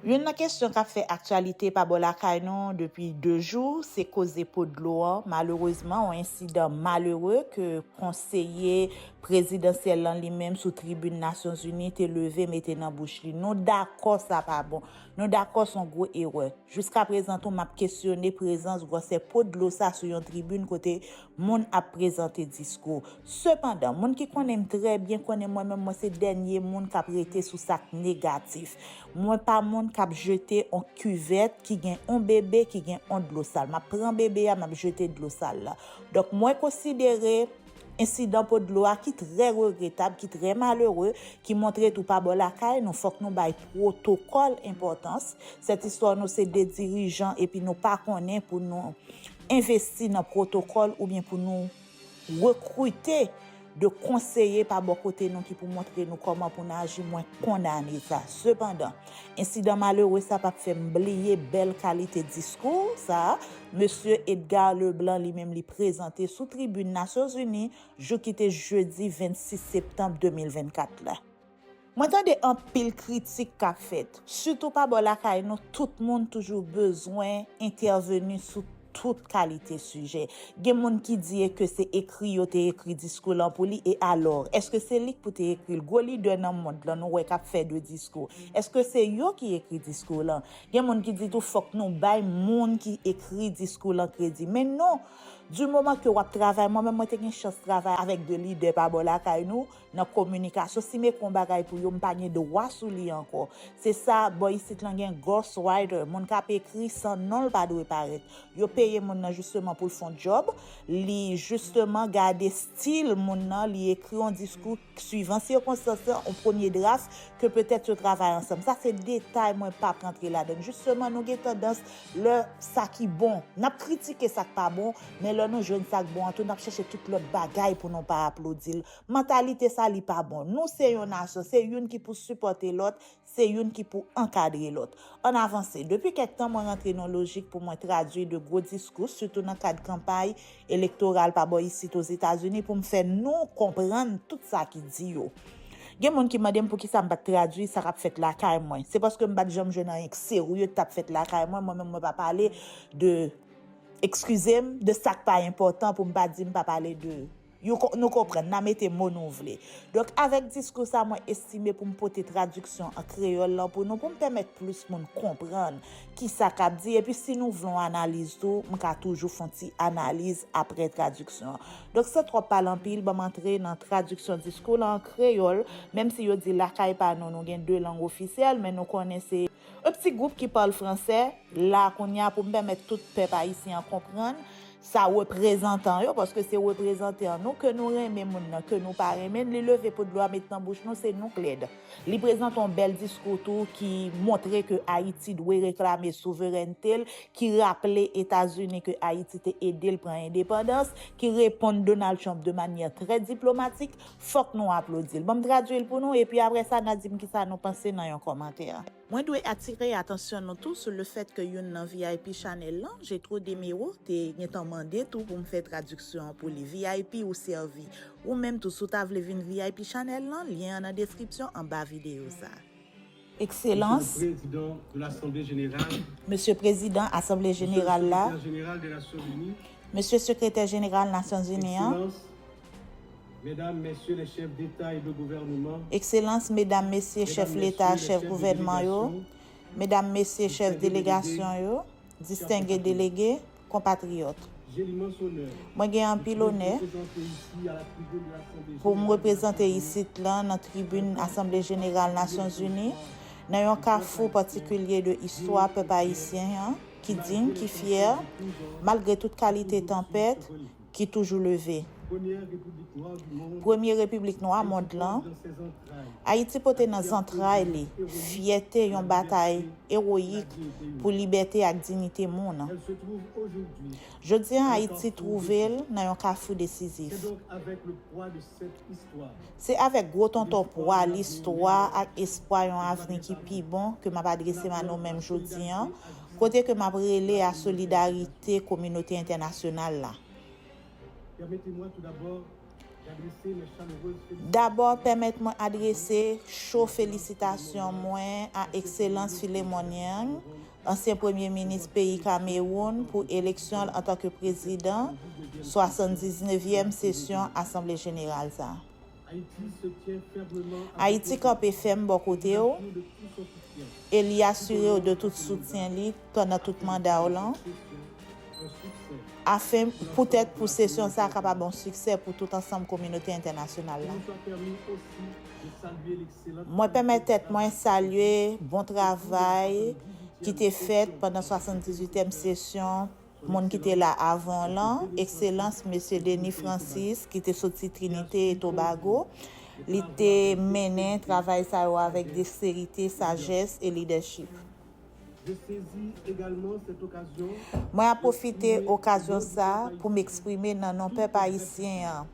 Youn nan kesyon k ap fè aktyalite pa bò lakay nou depi 2 jou, se koze po dlo an. Malerezman, yon ensidan malere ke konseye prezidansyèl lan li menm sou tribin Nasyonzini te leve mete nan bouch li. Nou dakò sa pa bon. Nou dakò s on gwo erè. Jiskaprezan tou m ap kesyone prezans gwòsè po dlo sa sou yon tribin kote Moun ap prezante diskou. Sepandan, moun ki konnen m trè byen konnen mwen menm mwen se dènye moun k ap rete sou sa k negatif. Mwen pa moun k ap jete on kivèt ki gen on bebe ki gen on dlo sal. M ap pran bebe a, m ap jete dlo sal la. Donk mwen konsidere ensidan po dlo a ki trè regretab, ki trè malere, ki montre tou pa bò lakay nou fòk nou bay pwotokòl enpòtans. Sètistwa nou se de dirijan epi nou pa konnen pou nou. Envesti nan pwotokòl oubyen pou nou rekrite de konseye pa bò kote nou ki pou montre nou kòman pou n aji, mwen kondane sa. Sepandan, ensidan malere sa pa p fè m bliye bèl kalite diskou sa a Mesye Edgar Leblanc li menm li prezante sou tribin Nasyonzini jou ki te jedi 26 septanm 2024 la. Mwen tande anpil kritik kap fèt, sitou pa bò lakay nou tout moun toujou bezwen entèveni sou tout kalite sijè. Gen moun ki di e ke se ekri yo te ekri diskou lan pou li e alò, eske se li k pou te ekri l? Gwo lidè nan mond lan nou wè kap fè de diskou, eske se yo ki ekri diskou lan? Gen moun ki di tou fòk nou bay moun ki ekri diskou lan kredi. Men non! Di moman ke wap travay, mwen menm mwen te gen chans travay avèk de lidè pa bò lakay nou, Nan kominikasyon si me kon bagay pou yo m pa gen dwa sou li ankò. Se sa bò isit lan gen ghost writer, moun k ap ekri san non l pa dwe parèt. Yo peye moun nan jisteman pou l fon djòb, li jisteman gade stil moun nan, li ekri yon diskou k suivan sikonstans lan, yon premye draf ke petèt yo travay ansanm. Sa se detay mwen p ap rantre ladan l. Jisteman nou gen tandans. Lè sa ki bon, n ap kritike sa k pa bon, men lè nou jwenn sa k bon an tou, n ap chèche tout lòt bagay pou nou pa aplodi l. Mantalite sa li pa bon. Nou se yon nasyon, se youn ki pou sipòte lòt, se youn ki pou ankadre lòt. Ann avanse. Depi kèk tan mwen rantre nan lojik pou mwen tradui de gwo diskou, sitou nan kad kanpay, Elektoral pa bò isit Ozetazini pou m fè nou konprann tout sa ki di yo. Gen moun ki mande m poukisa m pa t tradui sa k ap fèt lakay mwen. Se paske m pa t janm jwenn anyen k serye k t ap fèt lakay mwen, mwen menm mwen pa pale de, ekskize m, de sa k pa enpòtan pou m pa di m pa pale de, nou konprann, n a mete mo nou vle. Donk avèk diskou sa mwen estime pou m pote tradiksyon an kreyòl lan pou nou pou m pèmèt plis moun konprann Kisa k ap di, epi si nou vle yon analiz tou, m ka toujou fon ti analiz apre tradiksyon an. Donk san twòp pale anpil, ban m antre nan tradiksyon diskou la an kreyòl, menm si yo di lakay pa nou, nou gen 2 lang ofisyèl, men nou konnen se yon ti gwoup ki pale franse, la kounya pou m pèmèt tout pèp ayisyen an konprann, sa reprezantan yo paske se reprezante an nou ke nou renmen moun nan ke nou pa renmen li leve pot dlo a met nan bouch nou se nou k lèd li prezante yon bèl diskou tou ki montre ke ayiti dwe reklame souverènte l ki raple etazini ke ayiti te ede l pran endepandans ki reponn Donald Trump de manyè trè diplomatik fòk nou aplodi l bon m tradui l pou nou epi aprè sa na di m kisa nou panse nan yon kòmantè. Mwen dwe atire atansyon nou tou sou le fèt ke youn nan vip chanèl lan, Jetro Demero, te gentan mande tou pou m fè tradiksyon an pou li. Vip ou sèvi. Ou menm tou si w ta vle vin vip chanèl lan, lyen an nan deskripsyon anba videyo sa a. Ekselans, Mesye Prezidan Asanble Jeneral la, Mesye Sekretè Jeneral Nasyonzini an, Medam, Mesye lè Chèf Deta e de Gouvèneman. Ekselans, Medam, Mesye Chèf Leta, Chèf Gouvèneman yo, Medam, Mesye Chèf Delegasyon yo, Distenge Delege, Konpatriyòt. J'ai l'immense honneur. Mwen gen anpil onè. De vous représenter ici à la tribune de l'Assemblée Pou m reprezante isit lan nan tribin Asanble Jeneral Nasyon Zini, nan yon kafou patikilye de istwa pèp ayisyen an, ki ding, ki fyè, malgre tout kalite tanpèt, ki toujou leve. Premye repiblik nwa mond lan, Ayiti pote nan zantray li fyète yon batay ewoyik pou libète ak dinite moun. Jodi a Ayiti twouve l nan yon kafou desizif. Se avèk gwo tonton pwa listwa ak espwa yon avni ki pi bon ke m ap adrese m a nou menm jodi a, kote ke map rele a solidarite kominote entènasyonal la. Dabò pèmèt mwen adrese cho felisitasyon mwen a Ekselans Philemon Yang, ansyen premye minis peyi Kamewoun pou eleksyon l antanke prezidan 79 yèm sesyon asanble jeneral sa. Ayiti kanpe fèm bò kote w e li asire w de tout soutyen li pandan tout manda w lan, afen poutèt pou sesyon sa a kapab yon siksè pou tout ansanm kominote entènasyonal la. Mwen pèmèt tèt mwen salye bon travay ki te fèt pandan 78 èm sesyon, Moun ki te la avan w lan, Ekselans Mesye Denis Francis, ki te soti Trinite e Tobago, li te mennen travay sa yo avèk deksterite, sajès e lidèchip. Mwen ap pwofite okazyon sa pou m eksprime nan non pèp ayisyen an,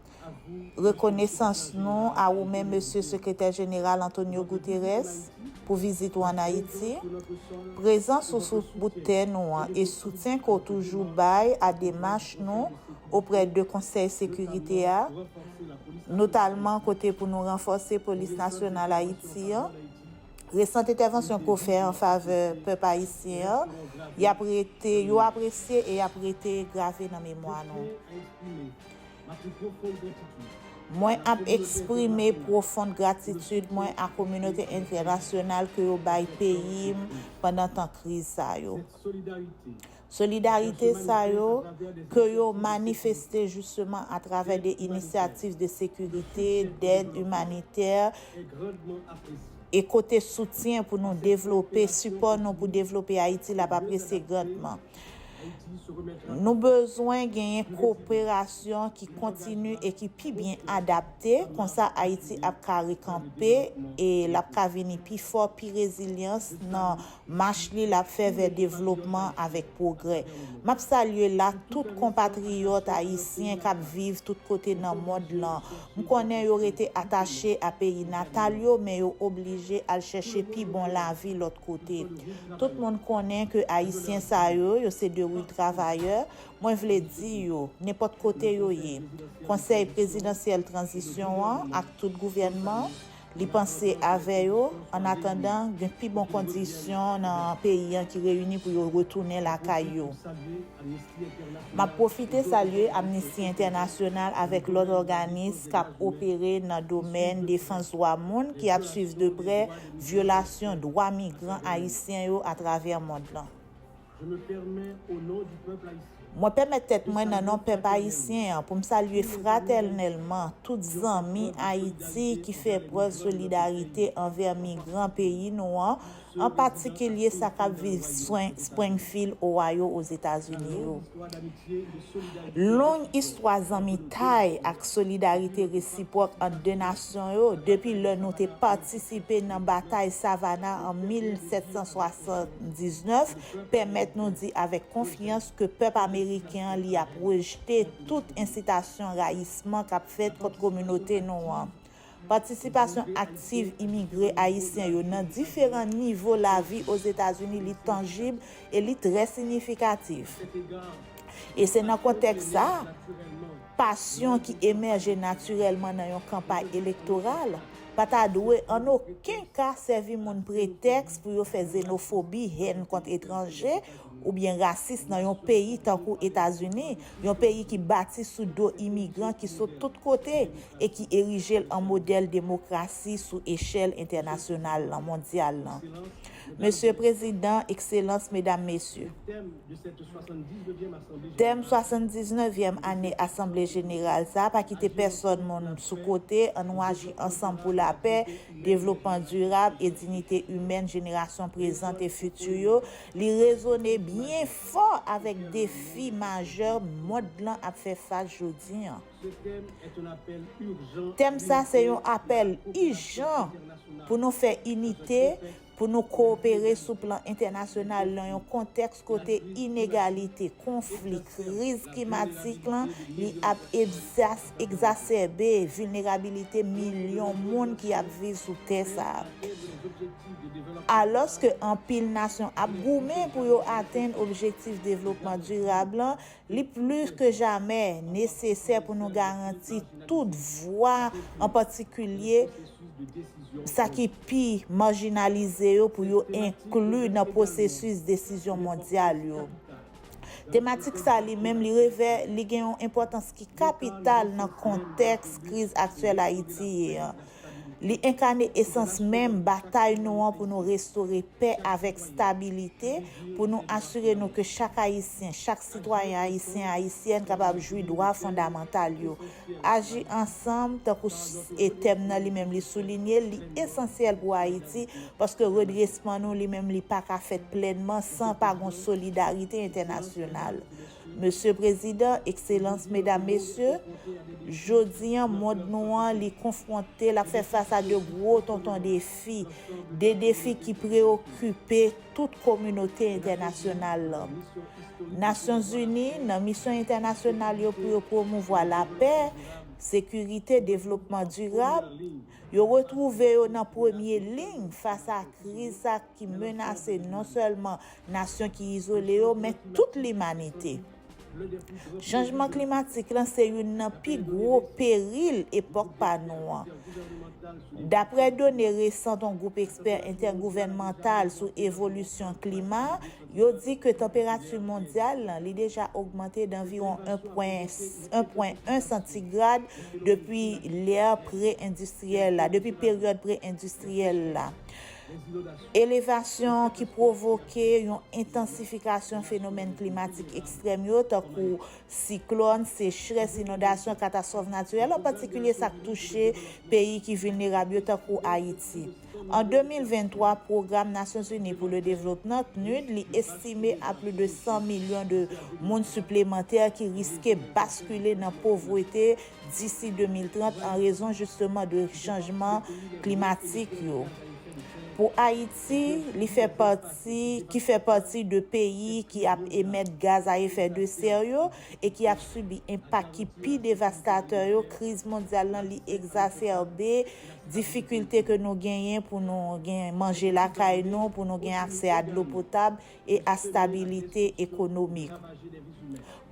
Rekonesans nou a ou menm Mesye Sekretè Jeneral Antonio Guterres pou vizit ou an Ayiti. Prezans ou sou bout tè nou an e soutyen ke w toujou bay a demach nou oprè de Konsèy Sekirite a, notalman kote pou nou ranfòse Polis Nasyonal Ayiti an, resant entèvansyon ke w fè an favè pèp ayisyen an, y ap rete, yo apresye e y ap rete grave nan memwa nou. Mwen ap eksprime pwofond gratitid mwen a kominote entènasyonal ke yo bay peyi m pandan tan kriz sa yo. Solidarite sa yo, ke yo manifeste jisteman atravè de inisyativ de sekirite, dèd imanitè, e kote soutyen pou nou devlope, sipò nou pou devlope Ayiti la ap apresye grandman. Nou bezwen genyen koperasyon ki kontini e ki pi byen adapte, konsa Ayiti ap ka rekanpe e l ap ka vini pi fò, pi rezilyans nan mach li l ap fè vè devlopman avèk pwogrè. M ap salye la tout konpatriyòt ayisyen k ap viv tout kote nan mond lan M konnen yo rete atache a peyi natal yo men yo oblije al chèche pi bon lavi lòt kote. Tout moun konnen ke Ayisyen sa yo, yo se de real travayè, mwen vle di yo, nenpòt kote yo ye, Konsèy Prezidansyèl Tranzisyon an ak tout gouvènman, Li panse avè yo, ann atandan, gen pi bon kondisyon nan peyi an ki reyini pou yo retounen lakay yo. M ap pwofite salye Amnisti Entènasyonal avèk lòt òganis k ap opere nan domèn defans dwa moun ki ap swiv de prè vyolasyon dwa migran ayisyen yo atravè mond lan. Je me permets, au nom du peuple haïtien. Mwen pèmèt tèt mwen nan non pèp ayisyen an pou m salye fratèlnèlman tout zanmi Ayiti ki fè prèv solidarite anvè migran peyi nou an, an patikilye sa k ap viv Springfield, Ohio, Ozetazini yo. Long istwa zanmitay ak solidarite resipwòk ant de nasyon yo depi lè nou te patisipe nan batay Savannah an 1760. 1919, pèmèt nou di avèk konfyans ke pèp ameriken an li ap rejte tout ensitasyon rayisman k ap fèt kont kominote nou an. Patisipasyon aktiv imigre ayisyen yo nan diferan nivo lavi Ozetazini li tanjib e li trè sinyifikatif. E se nan kontèks sa, Pasyon ki emèje natirèlman nan yon kanpay elektoral pa ta dwe an oken ka sèvi moun pretèks pou yo fè zenofobi, hèn kont etranje, oubyen rasis nan yon peyi tankou Etazini, yon peyi ki bati sou do imigran ki sot tout kote e ki erije l an modèl demokrasi sou echèl entènasyonal lan, mondyal lan. Mesye Prezidan, Ekselans, Medam, Mesye. Tèm 79 vyèm ane asanble jeneral sa a, Pa kite pèsòn moun sou kote, an nou aji ansanm pou lapè, devlopman dirab e dinite imèn jenerasyon prezant e fiti yo, li rezone byen fò avèk defi majè mond lan ap fè fas jodi an. Tèm sa se yon apèl ijan pou nou fè inite, pou nou kowopere sou plan entènasyonal nan yon kontèks kote inegalite, konfli, kriz klimatik lan li ap egzasèbe vilnerabilite milyon moun ki ap viv sou tè sa a. Alòske anpil nasyon ap goumen pou yo atenn objektif devlopman dirab lan, Li plis ke jamè nesesè pou nou garanti tout vwa, an patikilye sa ki pi marjinalize yo pou yo enkli nan pwosesis desizyon mondyal yo. Tematik sa li menm li revè li gen yon enpòtans ki kapital nan kontèks kriz aktyèl Ayiti ye an. Li enkane esans menm batay nou an pou nou restore pè avèk stabilite, pou nou asire nou ke chak Ayisyen, chak sitwayen Ayisyen, Ayisyèn kapab jwi dwa fondamantal yo. Aji ansanm, tankou e tèm nan li menm li soulinye l, li esansyèl pou Ayiti, paske redresman nou li menm li pa ka fèt plènman san pa gon solidarite entènasyonal. Mesye Prezidan, Ekselans, Medam, Mesye, jodi an mond nou an li konfwonte, l ap fè fas a de gwo tonton defi, de defi ki preyokipe tout kominote entènasyonal lan. Nasyonzini, nan misyon entènasyonal yo pou yo pwomouvwa lapè, sekirite, devlopman dirab, yo retwouve yo nan premye liy fas a kriz sa ki menase non sèlman nasyon ki izole yo men tout limanite. Chanjman klimatik lan se youn nan pi gwo peril epòk pa nou an. Daprè done resan ton gwoup ekspè entègouvènmantal sou evolisyon klima, yo di ke tanperati mondyal lan li deja ogmante danviwon 1,1 santigrad depi lè pre-endistriyèl la, depi peryòd pre-endistriyèl la. Elevasyon ki pwovoke yon entansifikasyon fenomèn klimatik ekstrèm yo, tankou siklòn, sechrès, inondasyon, katastwòf natirèl, an patikilye sa k touche peyi ki vilnerab yo, tankou Ayiti. An 2023, Pwogram Nasyonzini pou le Devlopman, PNUD, li estime a pli de 100 milyon de moun siplemantè ki riske baskile nan povrete, disi 2030 an rezon jisteman de chanjman klimatik yo. Pou Ayiti, li fè pati, ki fè pati de peyi ki ap emèt gaz a efè de sè yo e ki ap sibi enpak ki pi devastatè yo, kriz mondyal lan li egzasèbe difikilte ke nou genyen pou nou gen manje lakay nou, pou nou gen aksè a dlo potab, e astabilite ekonomik.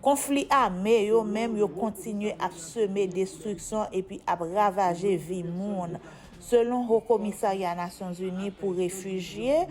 Konfli ame yo menm yo kontinye ap seme destriksyon epi ap ravaje vi moun, selon Ho Komisarya Nasyonzini pou Refijye,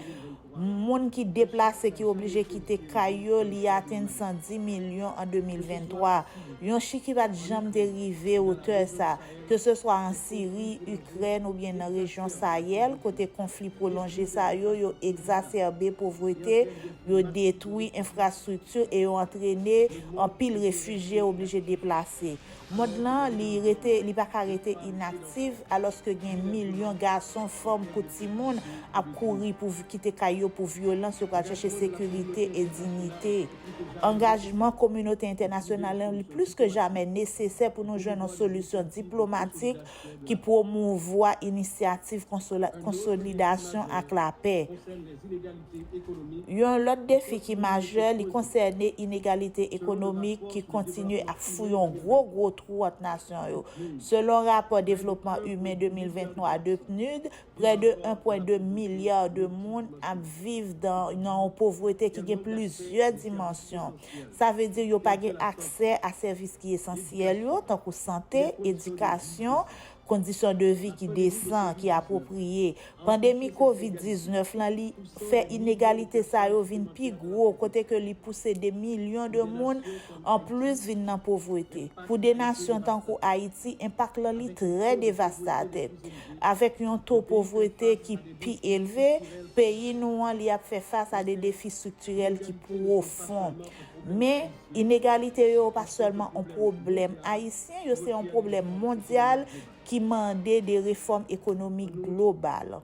moun ki deplase ki oblije kite kay yo li atenn 110 milyon an 2023, yon chif ki pa t janm te rive otè sa. ke se swa an Siri, Ikrèn oubyen nan rejyon Sayèl, kote konfli pwolonje sa yo, yo egzasèbe povrete, yo detwi enfrastrikti e yo antrene anpil refijye oblije deplase. Mond lan, li rete, li pa ka rete inaktif, alòske gen milyon gason, fanm kou timoun ap kouri pou kite kay yo pou vyolans, yo pral chèche sekirite e dignite. Angajman kominote entènasyonal lan li plis ke jamè nesesè pou nou jwenn yon solisyon diplomatik ki pwomouvwa inisyativ konsolidasyon ak lapè. Yon lòt defi ki majè, li konsène inegalite ekonomik ki kontinye ap fouye yon gwo gwo twou ant nasyon yo. Selon rapò devlopman imen 2023 de PNUD, Prè de 1,2 milya de moun ap viv nan yon povrete ki gen plizyè dimansyon. Sa vle di yo pa gen aksè a sèvis ki esansyèl yo, tankou sante, edikasyon, kondisyon de vi ki desan, ki apwopriye. Pandemi Kovid 19 lan li fè inegalite sa yo vin pi gwo kote ke li pouse de milyon de moun an plis vin nan povrete. Pou de nasyon tankou Ayiti, enpak lan li trè devastatè. Avèk yon to povrete ki pi elve peyi nou an li ap fè fas a de defi striktirèl ki pwofon. Men, inegalite yo pa sèlman on pwoblèm ayisyen, yo se on pwoblèm mondyal ki mande de refòm ekonomik global.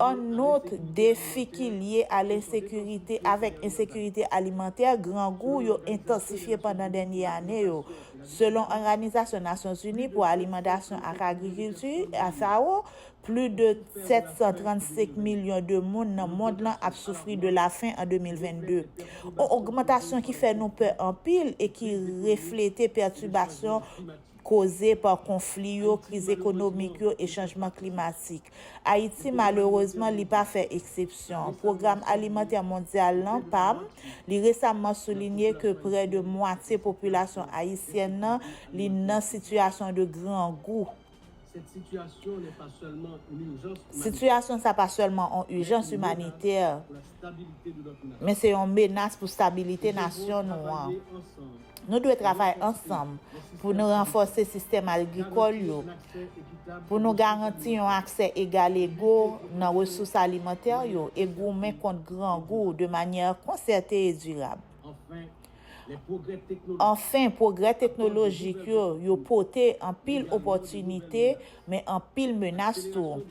Annot, defi ki lye a lensekirite avèk ensekirite alimantè, grangou, yo entansifye pandan dènye ane yo. Selon Òganizasyon Nasyon Zini pou Alimantasyon ak Agrikilti, FAO, pli de 735 milyon de moun nan mond lan ap soufri de lafen an 2022. On ogmantasyon ki fè nou pè anpil e ki reflete pètibasyon koze pa konfli yo, kriz ekonomik yo e chanjman klimatik. Ayiti malerezman li pa fè eksepsyon. Pwogram Alimantè Mondyal lan, pam, li resamman soulinye ke prè de mwatye popilasyon ayisyèn nan li nan sitiyasyon de grangou. Sitiyasyon sa pa sèlman on ijans imanitè. men se yon menas pou stabilite nasyon nou an. Nou dwe travay ansanm pou nou ranfòse sistèm algrikòl yo, pou nou garanti yon aksè egalego nan resous alimantè yo e goumen kont grangou de manyè konsète e dirab. Anfen, pwogrè teknolojik yo yo pote anpil opòtinite, men anpil menas tou.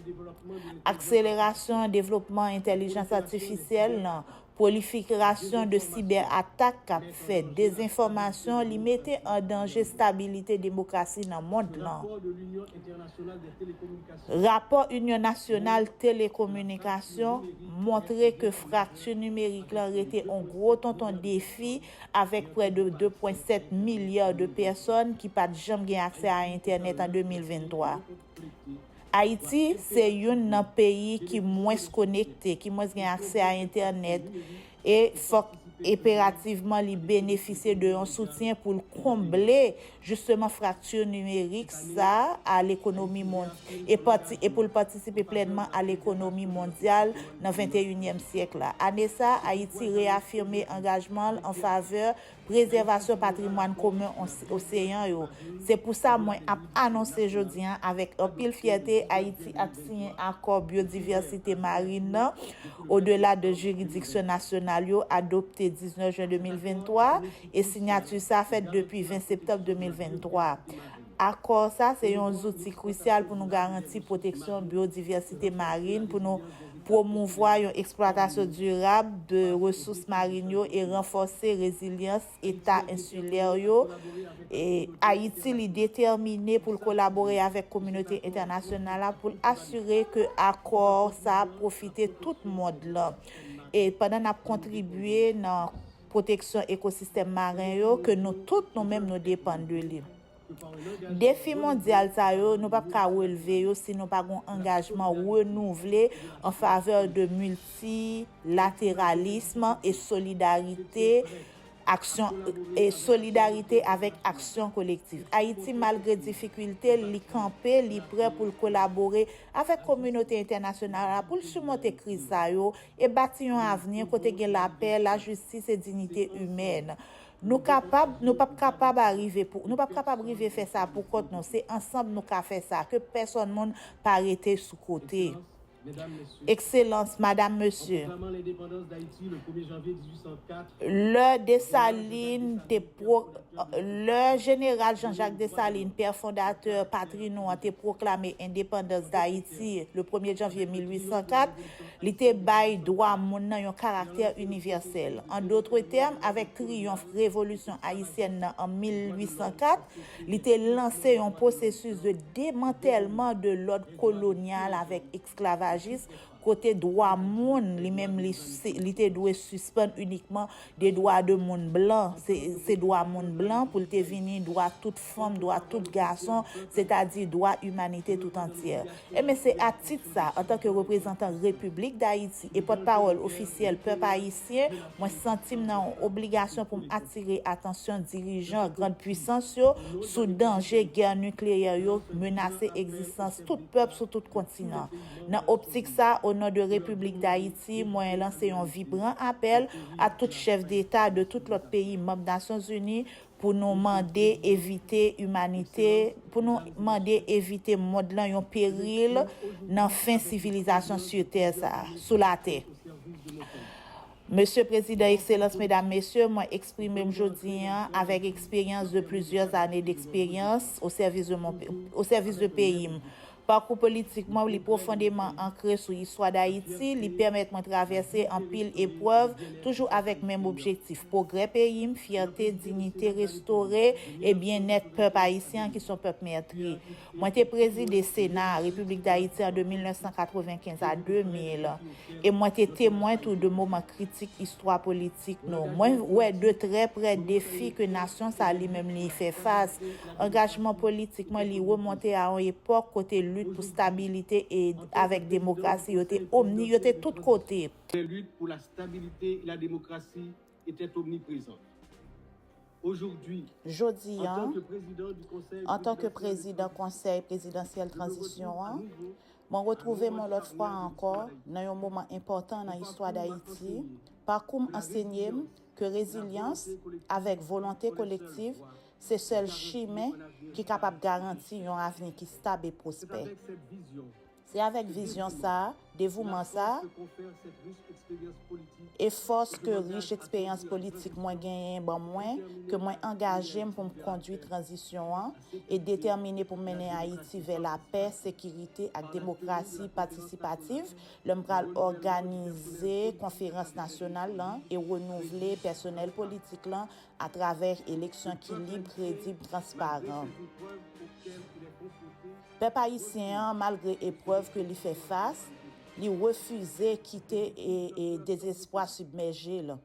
Akselerasyon devlopman entèlijans atifisyèl lan, pwolifikirasyon de sibè atak k ap fèt, dezenfòmasyon li mete an danje stabilite demokrasi nan mond lan. Rapò Inyon Nasyonal Telekominikasyon montre ke frakti nimerik lan rete on gwo tonton defi avèk prè de 2.7 milya de pèsòn ki pa t janm gen aksè a entènèt an 2023. Ayiti se youn nan peyi ki mwens konekte, ki mwens gen aksè a entènèt, e fòk enperativman li benefisye de yon soutyen pou l konble jisteman frakti nimerik sa a lekonomi e pou l patisipe plènman a lekonomi mondyal nan venteyinyèm syèk la. Ane sa a, Ayiti reyafime angajman l anfavè prezèvasyon patrimwàn komen oseyan yo. Se pou sa mwen ap anonse jodi an avèk anpil fyète Ayiti ap siyen Akò Byodivèsite Marin nan odela de jiridiksyon nasyonal yo adopte 19 jen 2023 e sinyati sa fèt depi 20 septanm 2023. Akò sa se yon zouti krisyal pou nou garanti pwoteksyon byodivèsite marin, pou nou pwomouvwa yon eksplwatasyon dirab de resous marin yo e ranfòse rezilyans eta ensilè yo. Ayiti li detèmine pou l kolabore avèk kominote entènasyonal la pou l asire ke akò sa pwofite tout mond lan pandan n ap kontribye nan pwoteksyon ekosistèm maren yo ke nou tout nou menm nou depann de li. Defi mondyal sa yo nou pap ka relve yo si nou pa gen yon angajman renouvle an favè de miltilateralism e solidarite aksyon e solidarite avèk aksyon kolektiv. Ayiti malgre difikilte l li kanpe li prè pou l kolabore avèk kominote entènasyonal la pou l simonte kriz sa yo e bati yon avni kote gen lapè, lajistis e dinite imèn. Nou kapab, nou pap kapab arive pou, nou pap kapab rive fè sa pou kont nou, se ansanb nou ka fè sa, ke pèsòn moun pa rete sou kote. Ekselans, Madam, Mesye, lè Desalin te pro, lè Jeneral Janjak Desalin, pè fondatè patri nou an te pwoklame endepandans Dayiti le premye janvye 1804, Li te bay dwa moun nan yon karaktè inivèsèl. An dotre tèm, avèk triyonf Revolisyon Ayisyèn nan an 1804, li te lanse yon pwosesis de demantèlman de lòd kolonyal avèk eksklavajis, kote dwa moun, li menm li te dwe sispann inikman De dwa de moun blan, se dwa moun blan pou l te vini, dwa tout fanm, dwa tout gason, setadi dwa imanite tout antyè. Enben se a tit sa, antanke reprezantan Repiblik Dayiti e pòtpawòl ofisyèl pèp ayisyen, mwen santi m nan yon obligasyon pou m atire atansyon dirijan grand pwisans yo sou danje gè nikleyè yo k menase egzistans tout pèp sou tout kontinan. Nan optik sa, o non de Repiblik Dayiti, mwen lanse yon vibran apèl a tout chèf deta de tout lòt peyi manb Nasyon Zini pou nou mande evite imanite, pou nou mande evite mond lan yon peril nan fen sivilizasyon su tè sa, sou latè. Mesye Prezidan, Ekselans, Medam, Mesye, mwen eksprime m jodi an avèk eksperyans de plizyè zane deksperyans o sèvis de mon, o sèvis de peyi m. Pakou politik mwen, li pwofondeman ankre sou istwa Dayiti, li pèmèt mwen travèse anpil eprèv, toujou avèk menm objektif, pwogrè peyi m, fyète, dignite restore, e byennèt pèp ayisyen an ki s on pèp mètri. Mwen te prezide Sena a Repiblik Dayiti an de 1995 a 2000. e mwen te temwen tou de moman kritik istwa politik nou. Mwen wè de trè prè defi ke nasyon sa li menm li fè fas. Angajman politik mwen li remonte a yon epòk kote lit pou stabilite e avèk demokrasi yo te omni, yo te tout kote. Prè lit pou la stabilite e la demokrasi Etait omniprezan. Ojodwi, Jodi an an, an tan ke prezidan Konsèy Prezidansyèl Tranzisyon an, mwen retwouve m yon lòt fwa ankò nan yon moman enpòtan nan istwa Dayiti, pakou m ansenye m ke rezilyans avèk volonte kolektiv se sèl chimen ki kapab garanti yon avni ki stab e pwospè. Se avèk vizyon sa a, devouman sa a, e fòs ke rich eksperyans politik mwen genyen ban mwen, ke mwen angaje m pou m kondui tranzisyon an, e detèmine pou m mennen Ayiti vè lapè, sekirite ak demokrasi patisipativ, lè m pral òganize konferans nasyonal lan e renouvle pèsonèl politik lan atravè eleksyon ki lib, kredib, transparan. Pèp ayisyen an, malgre eprèv ke li fè fas, li refize kite dezespwa sibmèje l.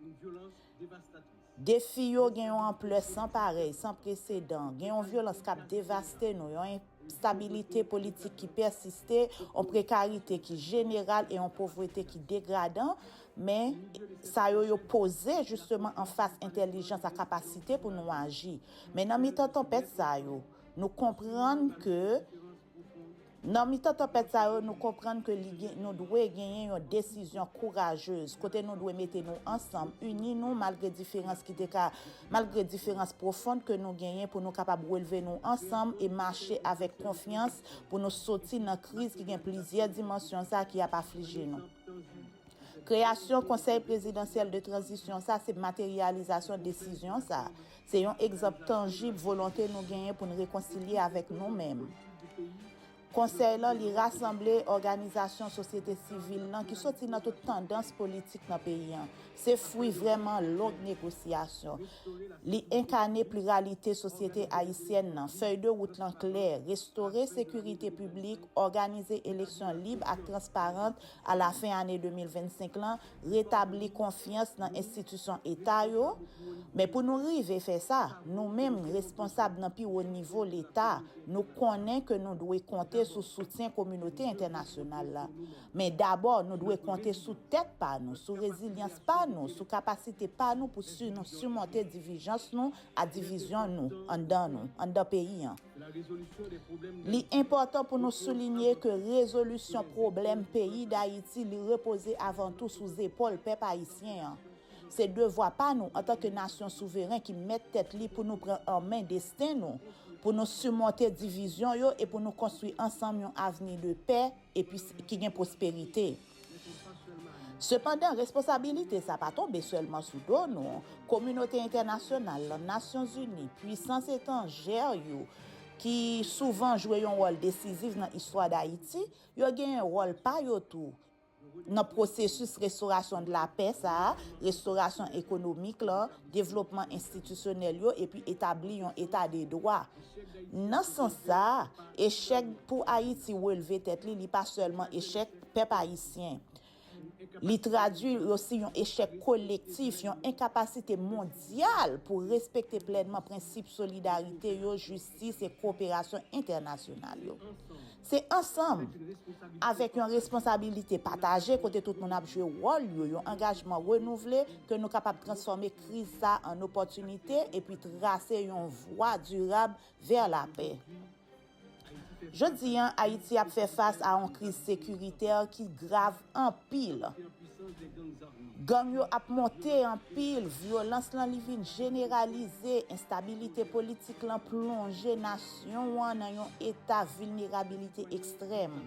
Defi yo gen yon anplè san parèy, san presedan. Gen yon vyolans k ap devaste nou, yon enstabilite politik ki pèsiste, yon prekarite ki jeneral e yon povrete ki degradan, Men, sa yo yo poze jisteman anfas entèlijans ak kapasite pou nou aji. Men nan mitan tanpèt sa yo, nou konprann ke, nan mitan tanpèt sa yo, nou konprann ke li gen, nou dwe genyen yon desizyon kourajez, kote nou dwe mete nou ansanm, ini nou malgre diferans ki te ka, malgre diferans pwofond ke nou genyen pou nou kapab relve nou ansanm e mache avèk konfyans pou nou soti nan kriz ki gen plizyè dimansyon sa ki ap aflije nou. Kreyasyon Konsèy Prezidansyèl de Tranzisyon sa se materyalizasyon desizyon sa. Se yon egzanp tanjib volonte nou genyen pou n rekonsilye avèk nou menm. Konsèy lan li rasanble òganizasyon sosyete sivil lan ki soti nan tout tandans politik nan peyi an, Se fwi vrèman long negosyasyon. Li enkane pliralite sosyete ayisyèn nan. Fèy de wout lan klè, restore sekirite piblik, òganize eleksyon lib ak transparant a la fen ane 2025 lan, retabli konfyans nan enstitisyon eta yo. Men pou nou rive fè sa, nou menm responsab nan pi wo nivo leta, nou konnen ke nou dwe konte sou soutyen kominote entènasyonal la. Men dabò nou dwe konte sou tèt pa nou, sou rezilyans pa nou, sou kapasite pa nou pou nou simonte divijans nou a divizyon nou anndan nou, anndan peyi an. Li enpòtan pou nou soulinye ke rezolisyon pwoblèm peyi Dayiti li repoze avan tou sou zepòl pèp ayisyen an. Se devwa pa nou antan ke nasyon souveren ki mèt tèt li pou nou pran an men desten nou, pou nou simonte divizyon yo e pou nou konstwi ansanm yon avni de pè, epi ki gen pwosperite. Sepandan, responsabilite sa pa tonbe sèlman sou do nou, kominote entènasyonal lan, Nasyonzini, puisans etanjè yo ki souvan jwe yon wòl desizif nan istwa Dayiti, yo genyen wòl pa yo tou nan pwosesis restorasyon de la pè sa a, restorasyon ekonomik lan, devlopman enstitisyonèl yo epi etabli yon eta de dwa. Nan sans sa a, echèk pou Ayiti relve tèt li, li pa sèlman echèk pèp ayisyen. Li tradui osi yon echèk kolektif, yon enkapasite mondyal pou respekte plènman prensip solidarite yo, jistis e koperasyon entènasyonal yo. Se ansanm, avèk yon responsabilite pataje kote tout moun ap jwe wòl yo, yon angajman renouvle, ke nou kapab transfòme kriz sa a an opòtinite epi trase yon vwa dirab vè lapè. Jodi a, Ayiti ap fè fas a yon kriz sekiritè ki grav anpil gang yo ap monte anpil vyolans lan li vin jeneralize enstabilite politik lan plonje nasyon an nan yon eta vilnerabilite ekstrèm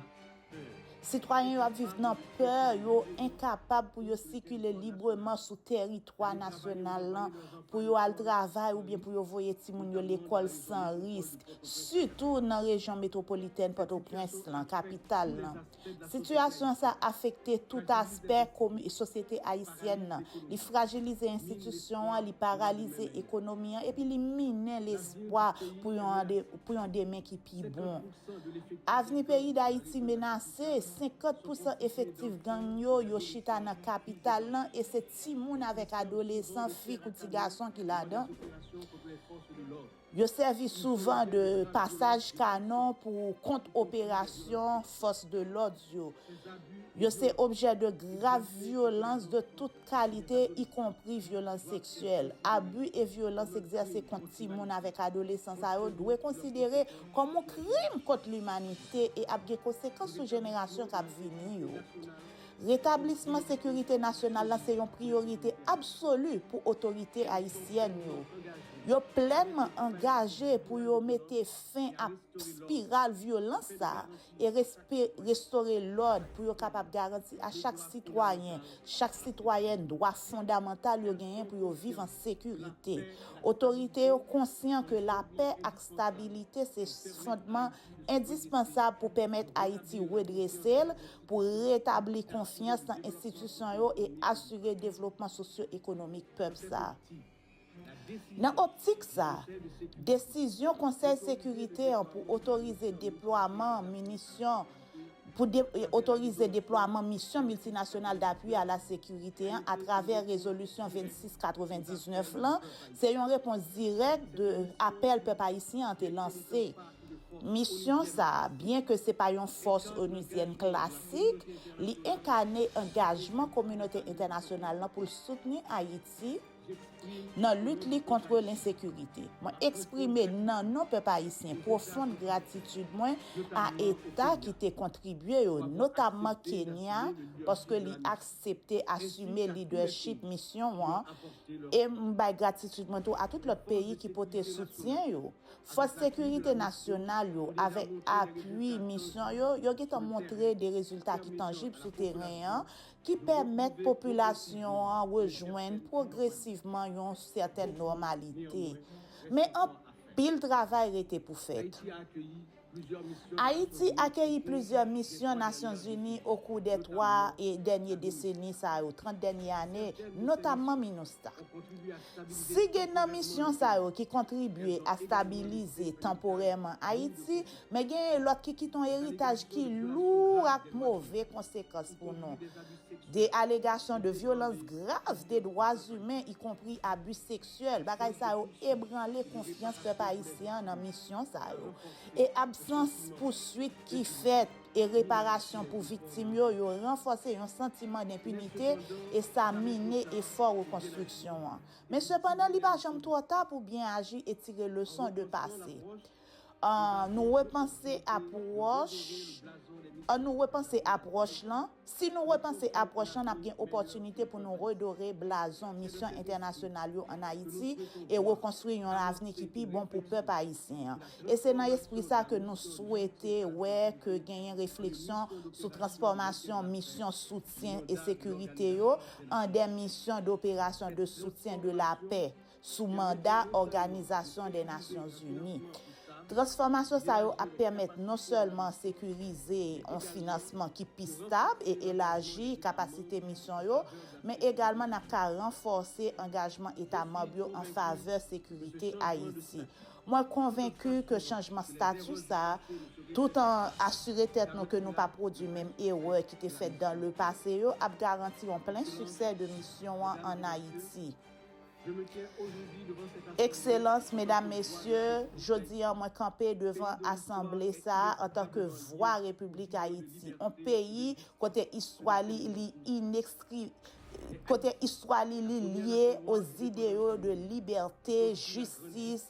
sitwayen yo ap viv nan pè yo enkapab pou yo sikile libreman sou tèritwa nasyonal lan pou yo al travay oubyen pou yo voye timoun yo lekòl san risk sitou nan rejyon metwopolitèn pòtoprens lan kapital lan. Sitiyasyon sa afekte tout aspè sosyete ayisyèn nan. Li frajilize enstitisyon an, li paralize ekonomi an epi li minen lespwa pou yon demen ki pi bon. Avni peyi Dayiti menase, 50 pousan efektif gang yo, yo chita nan kapital lan e se timoun avèk adolesan, fi kou ti gason ki ladan. Yo sèvi souvan de pasaj kanon pou kont operasyon fòs de lòd yo. Yo se objè de grav vyolans de tout kalite, ikonpri vyolans seksyèl. Abi e vyolans egzèse kont timoun avèk adolesan sa yo dwe konsidere kòm yon krim kont limanite e ap gen konsekans sou jenerasyon k ap vini yo. Retablisman sekirite nasyonal la se yon priyorite absoli pou otorite ayisyèn yo. Yo plènman angaje pou yo mete fen ak spiral vyolans sa a e restore lòd pou yo kapab garanti a chak sitwayen, chak sitwayèn dwa fondamantal yo genyen pou yo viv an sekirite. Otorite yo konsyan ke lapè ak stabilite se fondman endispansab pou pèmèt Ayiti redrese l, pou retabli konfyans nan enstitisyon yo e asire devlopman sosyo-ekonomik pèp sa a. Nan optik sa a, desizyon Konsèy Sekirite an pou otorize deplwaman minisyon pou otorize deplwaman Misyon Miltinasyonal Dapui a la Sekirite an atravè Rezolisyon 2699 lan se yon repons dirèk de apèl pèp ayisyen an te lanse Misyon sa a, byen ke se pa yon fòs onuzyèn klasik, li enkane angajman kominote entènasyonal lan pou l soutni Ayiti nan lit li kontre lensekirite. Mwen eksprime nan non pèp ayisyen pwofond gratitid mwen a eta ki te kontribye yo, notamman Kenya paske li aksepte asime lidèchip misyon an e m bay gratitid mwen tou a tout lòt peyi ki pote soutyen yo. Fòs sekirite nasyonal yo, avèk apui misyon yo, yo gentan montre de rezilta ki tanjib sou teren an, ki pèmèt popilasyon an rejwenn pwogresivman yon sètèn nòmalite. Men anpil travay rete pou fèt. Ayiti akeyi plizyè misyon Nasyonzini okou dè 3 dènye deseni sa yo, 30 dènye ane, notamman Minustah. Si gen nan misyon sa yo ki kontribye a stabilize tanporèman Ayiti, men genyen lòt ki kite yon eritaj ki lou ak move konsekans pou nou, de alegasyon de vyolans grav de dwazimen ikonpri abi sèk. Seul, bagay sa yo ebranle konfyans pèp ayisyen an nan misyon sa yo. E absans pouswit ki fèt e reparasyon pou viktim yo, yo ranfòse yon santiman denpinite e sa mine efò rekonstriksyon an. Men sepandan li pa janm twò ta pou byen aji e tire leson de pase. An nou repanse apwòch, An nou repanse apwòch lan, Si nou repanse apwòch lan, n ap gen opòtinite pou nou redore blazon misyon entènasyonal yo ann Ayiti e rekonstwi yon avni ki pi bon pou pèp ayisyen an. E se nan espri sa ke nou swete wè ke genyen refleksyon sou transfòmasyon misyon soutyen e sekirite yo an dè misyon doperasyon de soutyen de lapè, sou manda Òganizasyon dè Nasyon Zini. Transfòmasyon sa yo ap pèmèt non sèlman sekirize yon finansman ki pi stab e elaji kapasite misyon yo, men egalman n ap ka ranfòse angajman eta manb yo an favè sekirite Ayiti. Mwen konvenki ke chanjman stati sa, tout an asire tèt nou ke nou pa pwodui menm erè ki te fèt dan le pase yo, ap garanti yon plen siksè de misyon an ann Ayiti. Ekselans, Medam, Mesye, jodi an mwen kanpe devan asanble sa a antanke vwa Repiblik Ayiti, on peyi kote istwa li li inekstri, kote istwa li li lye o zideyo de libète, jistis,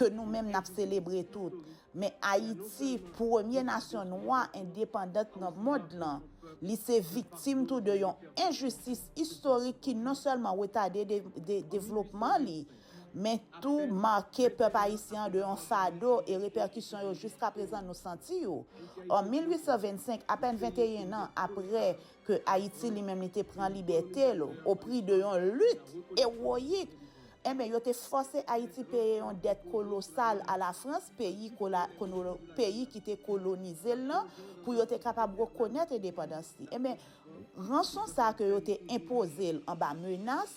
ke nou menm nap selebre tout, men Ayiti, premye nasyon nwa endepandant nan mond lan, li se viktim tou de yon enjistis istorik ki non sèlman retade devlopman li, men tou make pèp ayisyen an de yon fado e repèkisyon yo jiskaprezan nou santi yo. An 1825, apèn 21 nan apre ke Ayiti li menm li te pran libète l o pri de yon lit ewoyik, Enben, yo te fòse Ayiti peye yon dèt kolosal a Lafrans, peyi kola, konolo, peyi ki te kolonize l lan, pou yo te kapab rekonèt endepandans li. Enben, ranson sa a ke yo te enpoze l anba menas,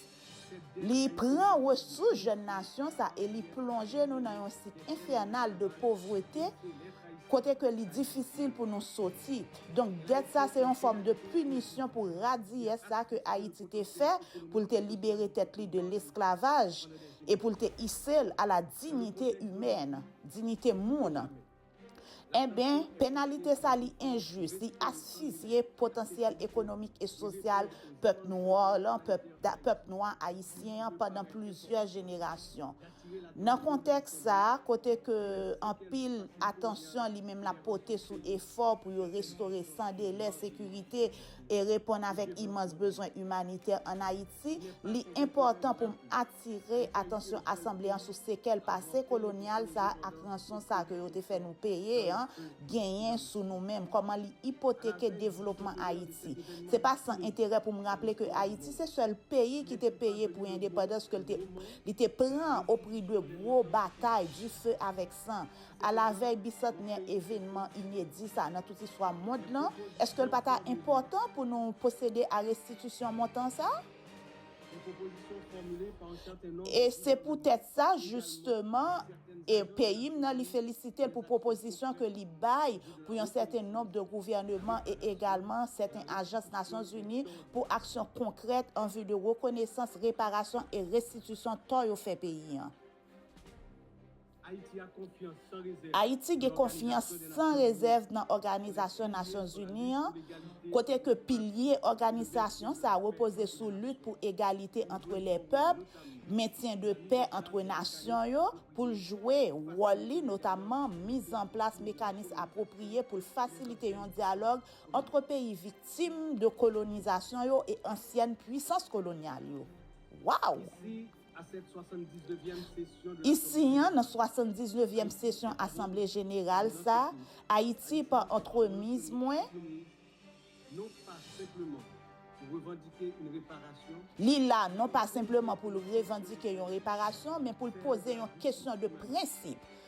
li pran resous jèn nasyon sa e li plonje nou nan yon sik enfènal de povrete, kote ke li difisil pou nou soti, donk dèt sa se yon fòm de pinisyon pou radiyès sa ke Ayiti te fè pou l te libere tèt li de lesklavaj e pou l te ise l a la dignité humaine, dinite moun. Enben, penalite sa li enjis, li asfizye potansyèl ekonomik e sosyal pèp nwa lan, pèp nwa ayisyen an pandan plizyè jenerasyon. Nan kontèks sa, kote ke anpil atansyon li menm lap pote sou efò pou yo restore san delè sekirite e reponn avèk imans bezwen imanitè an Ayiti, li enpòtan pou m atire atansyon asanble an sou sekèl pase kolonyal sa ak ranson sa ke yo te fè nou peye an genyen sou nou menm, kòman li ipoteke devlopman Ayiti. Se pa san enterè pou m raple ke Ayiti se sèl peyi ki te peye pou endepandans ke l te Li te pran o pri de gwo batay du feu avec sang, a la vèy bisantnè evenman inedi sa nan tout istwa mond lan, èske l pa ta enpòtan pou nou pwosede a restitisyon montan sa? E se poutèt sa, jisteman, e peyi m nan li felisite l pou pwopozisyon ke li bay pou yon sèten nonb de gouvèneman e egalman sèten ajans Nasyonzini pou aksyon konkrèt an vi de rekonesans, reparasyon e restitisyon tò yo fè peyi an. Ayiti gen konfyans san rezèv nan Òganizasyon Nasyon Zini an, kote ke pilye òganizasyon sa repoze sou lit pou egalite antre lè pèp, mentyen de pè antre nasyon yo, pou l jwe wòl li, notamman mizanplas mekanis apwopriye pou l fasilite yon dyalòg Antre peyi viktim de kolonizasyon yo e ansyèn pwisans kolonyal yo. Waww! Isi an, nan 79 vyèm sesyon asanble jeneral sa, Ayiti, pa antremiz mwen, li la non pa senpleman pou l revandike yon reparasyon, men pou l poze yon kesyon de prensip,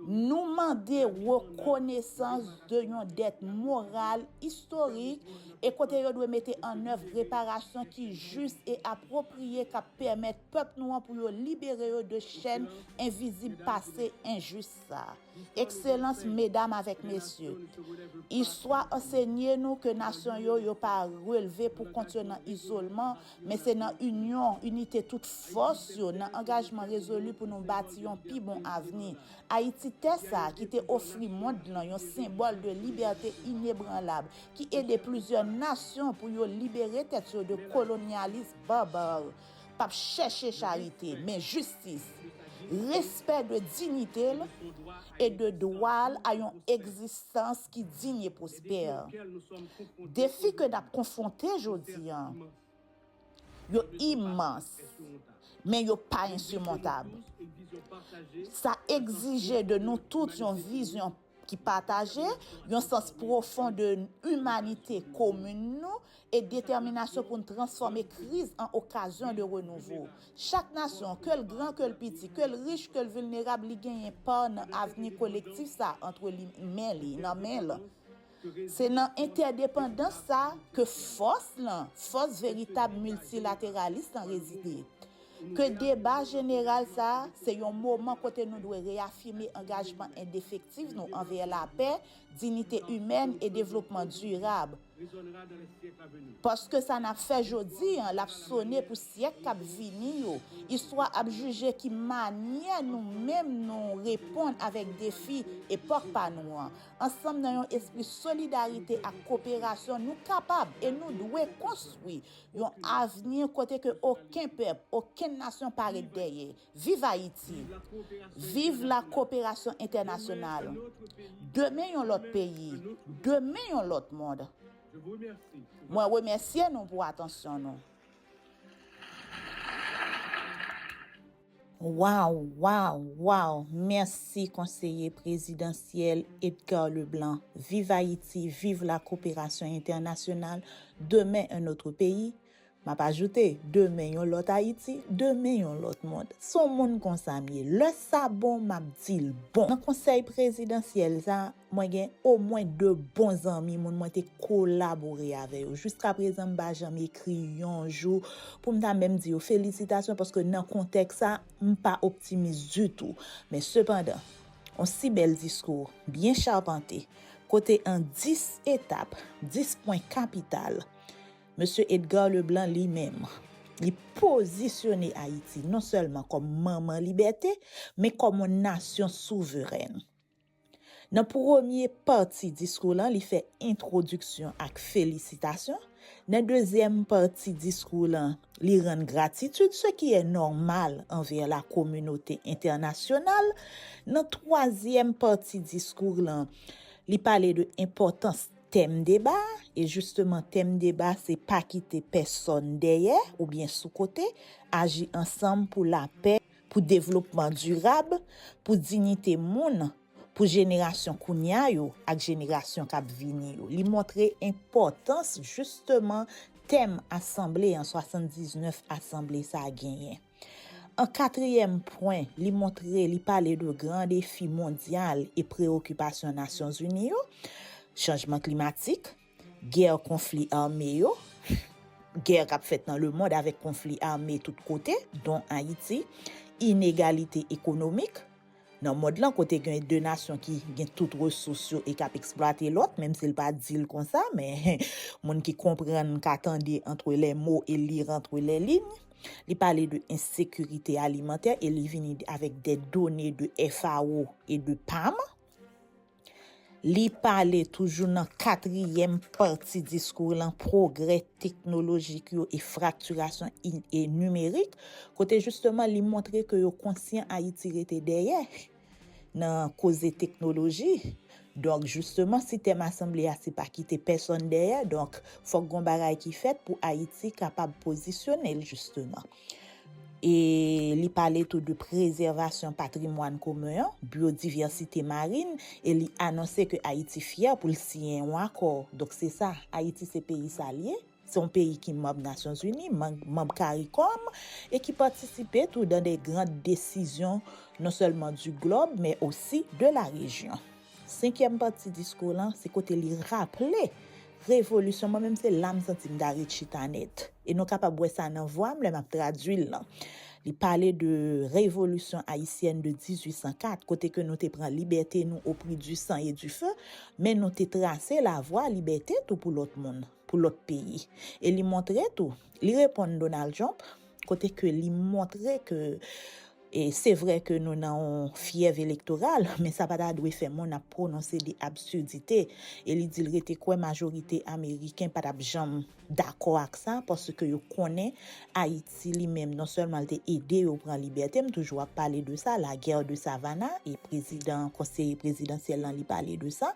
Nou mande rekonesans de yon dèt moral, istorik, e kote yo dwe mete annèv reparasyon ki jis e apwopriye k ap pèmèt pèp nou an pou yo libere yo de chèn envizib pase enjis sa. Ekselans, Medam avèk Mesye, Istwa ansenye nou ke nasyon yo yo pa relve pou kont yo nan izolman, Men se nan inyon, inite tout fòs yo, nan angajman rezoli pou nou bati yon pi bon avni. Ayiti tè sa a ki te ofri mond lan yon senbòl de libète inebranlab, ki ede plizyè nasyon pou yo libere tèt yo de kolonyalis barbare, p ap chèche charite, men jistis, respè de dinite l e de dwa l a yon egzistans ki digne et prospère. Defi ke nap konfwonte jodi an yo imans men yo pa ensimontab. Sa egzije de nou tout yon vizyon ki pataje, yon sans pwofon de imanite komin nou e detèminasyon pou n transfòme kriz an okazyon de renouvo. Chak nasyon, ke l gran, ke l piti, ke l rich, ke l vilnerab, li genyen pa nan avni kolektif sa a antre li men li, nan men l. Se nan entèdepandans sa a ke fòs lan, fòs veritab miltilateralis lan rezide. Ke deba jeneral sa a se yon moman kote nou dwe reyafime angajman endefektif nou anvè lapè, dinite imèn e devlopman dirab, Paske sa n ap fè jodi an, l ap sone pou syèk k ap vini yo. Istwa ap jije ki manyè nou menm nou reponn avèk defi epòk pa nou an. Ansanm nan yon espri solidarite ak koperasyon nou kapab e nou dwe konstwi yon avni kote ke oken pèp, okenn nasyon pa ret dèyè. Viv Ayiti! Viv la koperasyon entènasyonal! Demen yon lòt peyi! Demen yon lòt mond! Mwen remèsye nou pou atansyon nou. Waw waw waw mèsi konseye prezidansyèl Edgar Leblanc viv ayiti viv la koperasyon entènasyonal demen un autre pays. M ap ajoute, demen yon lòt Ayiti, demen yon lòt mond. S on mond konsa m ye. Lè sa bon, m ap di l bon. Nan konsèy prezidansyèl sa, mwen gen omwen de bon zanmi, moun mwen te kolabore avè yo. Jiskaprezan m pa janm ekri yon jou pou m ta menm di yo felisitasyon paske nan kontèks sa, m pa optimis ditou. Men sepandan, on si bèl diskou, byen chapante, kote an dis etap, dis pwen kapital, Mesye Edgar Leblanc li menm, li pozisyone Ayiti non sèlman kòm manman libète, men kòm yon nasyon souverèn. Nan premye pati diskou lan li fè entwodiksyon ak felisitasyon, nan dezyèm pati diskou lan li rann gratitid se ki è nòmal anvè la kominote entènasyonal, nan twazyèm pati diskou lan li pale de enpòtans Tèm deba a, e jisteman tèm deba se pa kite pèsòn dèyè oubyen sou kote, aji ansanm pou lapè, pou devlopman dirab, pou dignite moun, pou jenerasyon kounya yo ak jenerasyon k ap vini yo. Li montre enpòtans jisteman tèm asanble an, 79 asanble sa genyen. An katriyèm pwen, li montre li pale de gran defi mondyal e prewokipasyon Nasyon Zini yo, chanjman klimatik, gè konfli ame yo, gè k ap fèt nan lemond avèk konfli ame tout kote, don Ayiti, inegalite ekonomik. Nan mond lan kote gen 2 nasyon ki gen tout resous yo e k ap eksplwate lòt, menm si l pa di l konsa, men moun ki konprann ka tande antre lè mo e li rantre lè liy. Li pale de ensekirite alimantè e li vini avèk de done de FAO e de pam. Li pale toujou nan katriyèm pati diskou l lan pwogrè teknolojik yo e fraktirasyon nimerik kote jisteman li montre ke yo konsyan Ayiti rete dèyè nan koze teknoloji. Donk jisteman si tèm asanble a se pa kite pèsonn dèyè donk fòk gon bagay ki fèt pou Ayiti kapab pozisyone l jisteman. E li pale tou de prezèvasyon patrimwàn komen an, byodiversite marin, e li anonse ke Ayiti fyè pou l siyen yon akò. Donk se sa, Ayiti se peyi sa l ye. Se yon peyi ki manb Nasyon Zini, manb Karikòm, e ki patisipe tou dan de gran desizyon non sèlman di glòb, men osi de la rejyon. Senkyèm pati diskou w lan se kote li raple revolisyon mwen menm se la m santi m ta ret chita nèt e nou kapab wè sa nan vwa m lè m ap tradui l lan. Li pale de revolisyon ayisyèn de 1804 kote ke nou te pran libète nou o pri di san e di fe men nou te trase lavwa libète tou pou lòt moun. pou lòt peyi. E li montre tou, li reponn Donald Trump, kote ke li montre ke e se vre ke nou nan yon fyèv elektoral, men sa pa ta dwe fè moun ap pwononse de absidite. E li di l rete kwè majorite Ameriken pa tap janm dakò ak sa, paske yo konnen Ayiti li menm non sèlman li te ede yo pran libète, m toujou ap pale de sa, la guerre de Savannah, e prezidan, konseye prezidansyèl lan li pale de sa,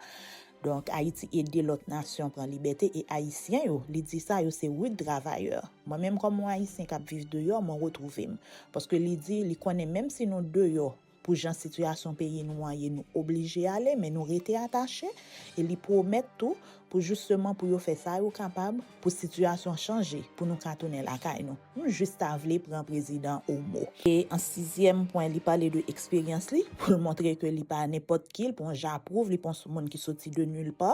Donk ayiti ede lòt nasyon pran libète e ayisyen yo, li di sa yo se rud travayè. Mwen menm kòm on ayisyen kap viv deyò mwen retwouve'm. Paske li di li konnen menm si nou deyò pou jan sitiyasyon peyi nou an ye nou oblije ale men nou rete atache e li pwomèt tou pou jisteman pou yo fè sa yo kapab pou sitiyasyon chanje pou nou ka tounen lakay nou. Nou jis ta vle pran prezidan o mo. E an sizyèm pwen li pale de eksperyans li pou l montre ke li pa nenpòt ki, li pa yon japwouv, li pa yon soumoun ki soti de nil pa,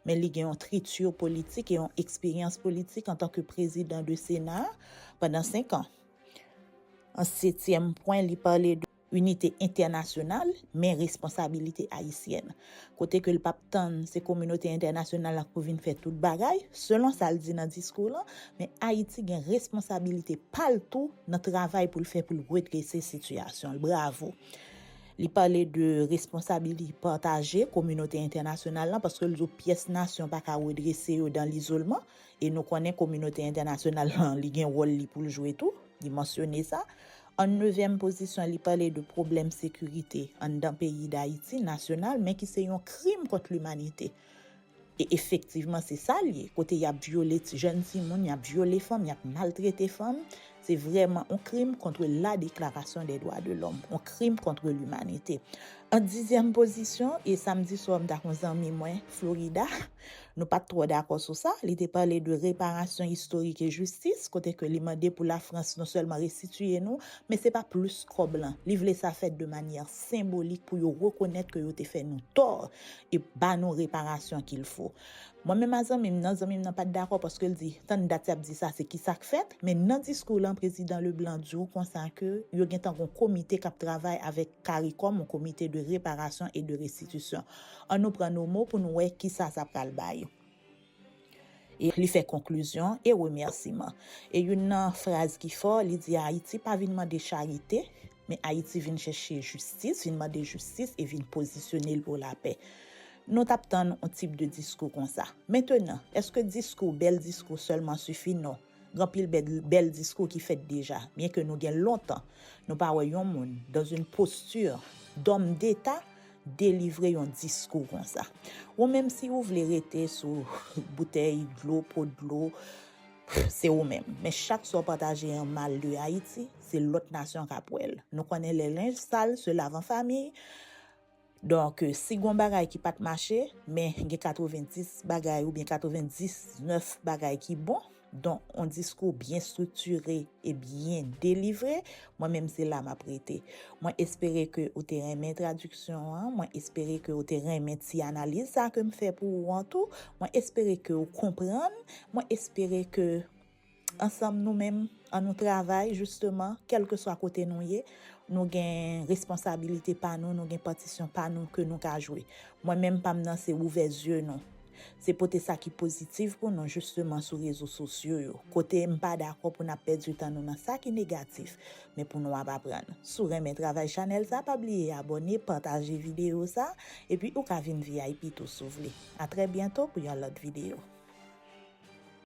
men li gen yon triti politik e yon eksperyans politik antan ke prezidan de sena pandan 5 an. An setyèm pwen li pale de. Inite entènasyonal, men responsabilite ayisyèn. Kote ke l pap tann se kominote entènasyonal la pou vin fè tout bagay, selon sa l di nan diskou lan, men Ayiti gen responsabilite pa l tou nan travay pou l fè pou l redrese sitiyasyon l. Bravo! Li pale de responsabilite pataje kominote entènasyonal lan, paske l di w pyès nasyon pa ka redrese yo dan lizolman, e nou konnen kominote entènasyonal lan li gen wòl li pou l jwe tou, li mansyone sa. An nevyèm pozisyon li pale de pwoblèm sekirite anndan peyi Dayiti, nasyonal, men ki se yon krim kont limanite. E efektivman se sa l ye, kote y ap vyole jèn timoun, y ap vyole fanm, y ap maltrete fanm, se vrèman yon krim kontre la deklarasyon dè dwa de lòm, yon krim kontre limanite. An dizyèm pozisyon, e samdi swa m t ak yon zanmi mwen Florida, Nou pat twò dakò sou sa, li te pale de reparasyon istorik e jistis, kote ke li mande pou Lafrans non sèlman restitiye nou, men se pa plis kòb lan, li vle sa fèt de manyè senbolik pou yo rekonèt ke yo te fè nou tò e ba nou reparasyon kil fo. Mwen menm a zanmi m nan, zanmi m nan pat dakò paske l di, tann dat y ap di sa se kisa k fèt? Men nan diskou lan prezidan Leblanc di w konsa ke yo gentan gon komite k ap travay avèk caricom, yon komite de reparasyon e de restitisyon. An nou pran Nomo pou n wè kisa sa pral bay. E li fè konklizyon e remèsiman. E youn nan fraz ki fò, li di Ayiti pa vin mande charite, men Ayiti vin chèche jistis, vin mande jistis e vin pozisyone l pou lapè. Nou t ap tann yon tip de diskou konsa. Mentenan, èske diskou, bèl diskou sèlman sifi? Non. Gen anpil bèl diskou ki fèt deja, byen ke nou gen lontan nou pa wè yon moun dans une posture d'homme d'Etat delivre yon diskou konsa. Ou menm si ou vle rete sou boutèy dlo, po dlo, se ou menm. Men chak sa ou pataje an mal de Ayiti, se lòt nasyon k'ap wè'l. Nou konnen lè lenj sal se lave an famiy. Donk, si gon bagay ki pat mache, men gen 90 bagay oubyen 99 bagay ki bon, donk on diskou byen striktire e byen delivre, mwen menm se la map rete. Mwen espere ke ou te renmen tradiksyon an, mwen espere ke ou te renmen ti analiz sa kem fè pou ou an tou, mwen espere ke ou konprann, mwen espere ke. Ansanm nou menm an nou travay jisteman kèlkeswa kote nou ye, nou gen responsabilite pa nou, nou gen patisyon pa nou ke nou ka jwe. Mwen menm pa m nan se ouvè zye nou. Se pote sa ki pozitiv pou nou jisteman sou rezo sosyo yo. Kote m pa dakò pou n ap pèdi tan nou nan sa ki negatif, men pou nou ap aprann. Si w renmen travay chanèl sa, pa bliye abòne, pataje videyo sa, epi ou ka vin vip tou si w vle. A trè byento pou yon lòt videyo.